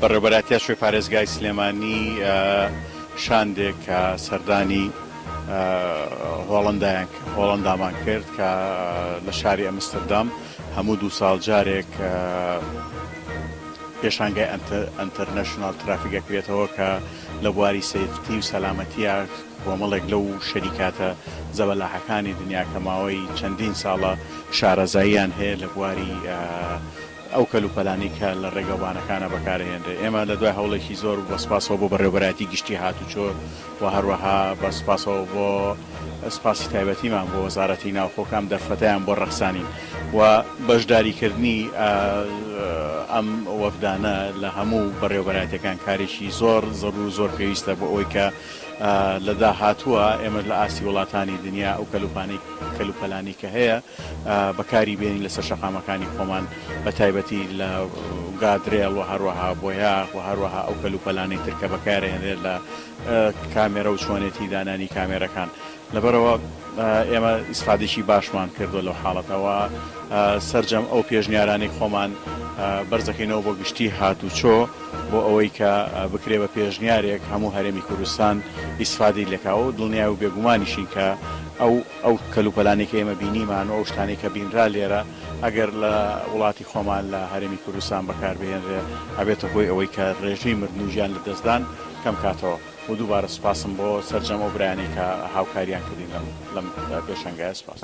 بەڕێوەبەرایەتیی شوێ پارێزگای سلێمانی شاندێک کە سەردانی هۆڵەندامان کرد کە لە شاری ئەمستردام هەموو دوو ساڵ جارێک پێشانگای ئەنتەرنەشناڵ ترافیک ئەکرێتەوە کە لە بواری سەیفتی و سەلامەتییە کۆمەڵێک لەو شەریکاتە زەبەلاحەکانی دنیا کە ماوەی چەندین ساڵە شارەزاییان هەیە لە بواری ئەو کەلوپەلانەی کە لە ڕێگەوبانەکانە بەکاردەهێنرێت. ئێمە لە دوای هەوڵێکی زۆر و بە سوپاسەوە بۆ بەڕێوەبەرایەتی گشتی هاتوچۆ و هەروەها بە سوپاسەوە بۆ سوپاسی تایبەتیمان بۆ وەزارەتی ناوخۆ کە ئەم دەرفەتەیان بۆ ڕەخسانین و بەشداریکردنی ئەم وەفدانە لە هەموو بەڕێوەبەرایەتیەکان کارێکی زۆر زەڕوور و زۆر پێویستە بۆ ئەوەی کە لە داهاتووە ئێمەش لە ئاستی وڵاتانی دنیا ئەو کەلوپانی کەلوپەلانی کە هەیە بەکاری بێنین لەسەر شەقامەکانی خۆمان بە تایبەتی لە گادرێڵ و هەروەها بۆیاخ و هەروەها ئەو کەلوپەلانی تر کە بەکارێنێت لە کامێرە و چۆنێتی دانانی کامێرەکان لەبەرەوە ئێمە ئیسفادێکی باشمان کردو لەو حاڵەتەوە سرجەم ئەو پێشنیارانی خۆمان بەرزەکەینەوە بۆ گشتی هات و چۆ بۆ ئەوەی کە بکرێ بە پێشنیارێک هەموو هەرێمی کوردستان ئیسفادی لەکاو دڵنیای و بێگومانیشین کە ئەو ئەو کەلوپەلانەی کە ئێمە بینیمان و ئەو شتانەی کە بینرا لێرە ئەگەر لە وڵاتی خۆمان لە هەرێمی کوردستان بەکار بهێنرێ ئەبێتە هۆی ئەوەی کە ڕێژەی مردن و گیان لەدەستدان کەم کاتەوە و دووبارە سوپاسم بۆ سەرجەم ئەو برایانەی کە هاوکاریان کردین لەم لەم پێشەنگایە سوپاس.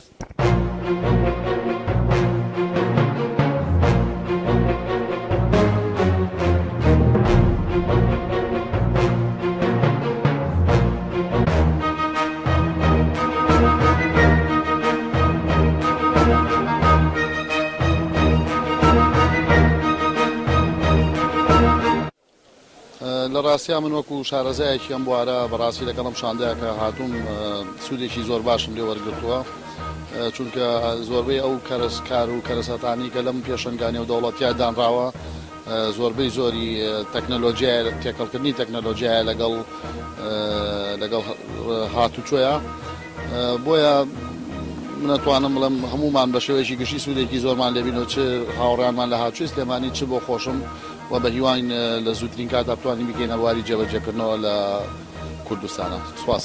لە ڕاستیا من وەکو شارەزایەکی ئەم بوارە بەڕاستی لەگەڵم شاندەکە هاتووم سوودێکی زۆر باشم لێ وەرگتووە چونکە زۆربەی ئەو کەرسکار و کەرەسەتانی کە لەم پێشنگانی و دەوڵەتیا دانراوە زۆربەی زۆری تەکنەلۆجیایە تێکەڵکردنی تەکنەلۆجیایە لەگەڵ لەگەڵ هاتوچۆیە بۆیە منەتوانم بڵم هەمومان بە شێوەیەکی گشتی سوودێکی زۆرمان لێبین و چ هاوڕیانمان لە هاچوی سلێمانی چ بۆ خۆشم و بە هیواین لە زووترین کات ئەتوانی بکەینە بواری جێبەجێکردنەوە لە کوردستانە سوپاس.